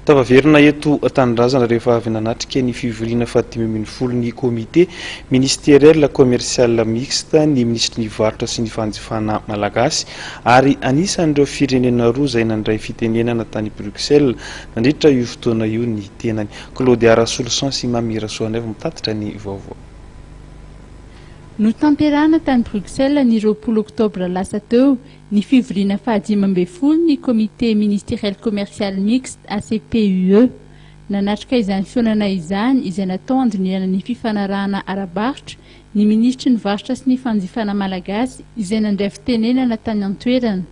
Tafaverina eto an-tanindrazana rehefa avy nanatrika ny fivoriana fahadimy ambin'ny folo ny Comité ministériel commercial mixte ny minisitry ny Varotra sy ny fanjifana malagasy ary anisan'ireo firenena roa izay nandray fitenenana tany Bruxelles nandritra io fotoana io ny tenany. Claudia Rasoloson sy Mamy Rasoanaivo mitatitra ny vaovao. Notanterahina tany Bruxelles ny roapolo oktobra lasa teo ny fivoriana fahadimy ambin'ny folo ny Comité Ministériel Commercial Mixte, ACPUE. Nanatrika izany fihaonana izany, izay natao handinihana ny fifanarahana ara-barotra, ny Minisitry ny Varotra sy ny Fanjifana malagasy, izay nandray fitenenana tany an-toerana,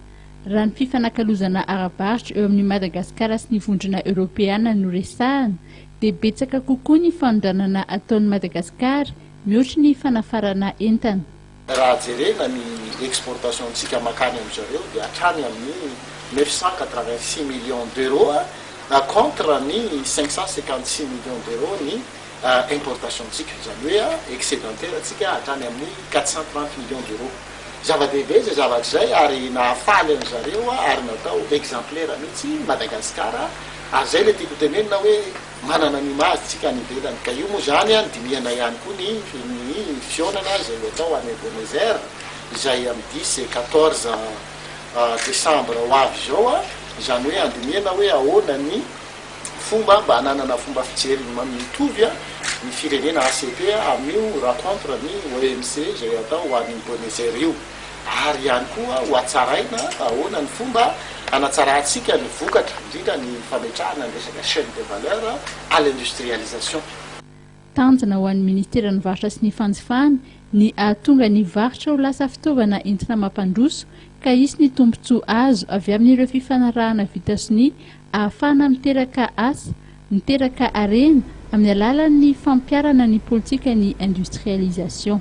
raha ny fifanakalozana ara-barotra eo amin'i Madagasikara sy ny Vondrona Eoropeana no resahana, dia betsaka kokoa ny fanondranana ataon'i Madagasikara, mihoatry ny fanafarana entana. Raha jerena ny exportation ntsika makany amin zareo dia hatrany amin ny neuf cent quatre-vingt six millions d'euros contre ny cinq cent cinquante six millions d'euros ny importation ntsika izany hoe excedentaire ntsika hatrany amin ny quatre cent trente millions d'euros. Zava dehibe izay zavatra izay ary nahafaly an zareo ary natao exemplaire mihitsy Madagascar ary izay ilay tiako ho tenenina hoe Manana ny image tsika any ivelany ka io moa zany a nidinihana ihany koa ny ny fihaonana izay ho atao any Ebenezer izay am dix et quatorze decembre ho avy izao a, izany hoe andinihana hoe ahoana ny fomba mba hananana fomba fijery mitovy a ny firenena ACP a amin'io rencontre ny OMC izay atao any Boenezer io. ary ihany koa hohatsaraina ahoana ny fomba hanatsarantsika ny vokatra, indrindra ny fametrahana ny resaka chaine de valeur à l'industrialisation. Tanjona ho an'ny Ministeran'ny Varotra sy ny Fanjifana ny hahatonga ny varotra ho lasa fitaovana entina mampandroso ka hisy ny tombontsoa azo avy amin'ireo fifanarahana vita sonia ahafahana miteraka asa, miteraka harena amin'ny alalan'ny fampiharana ny politikan'ny industrialisation.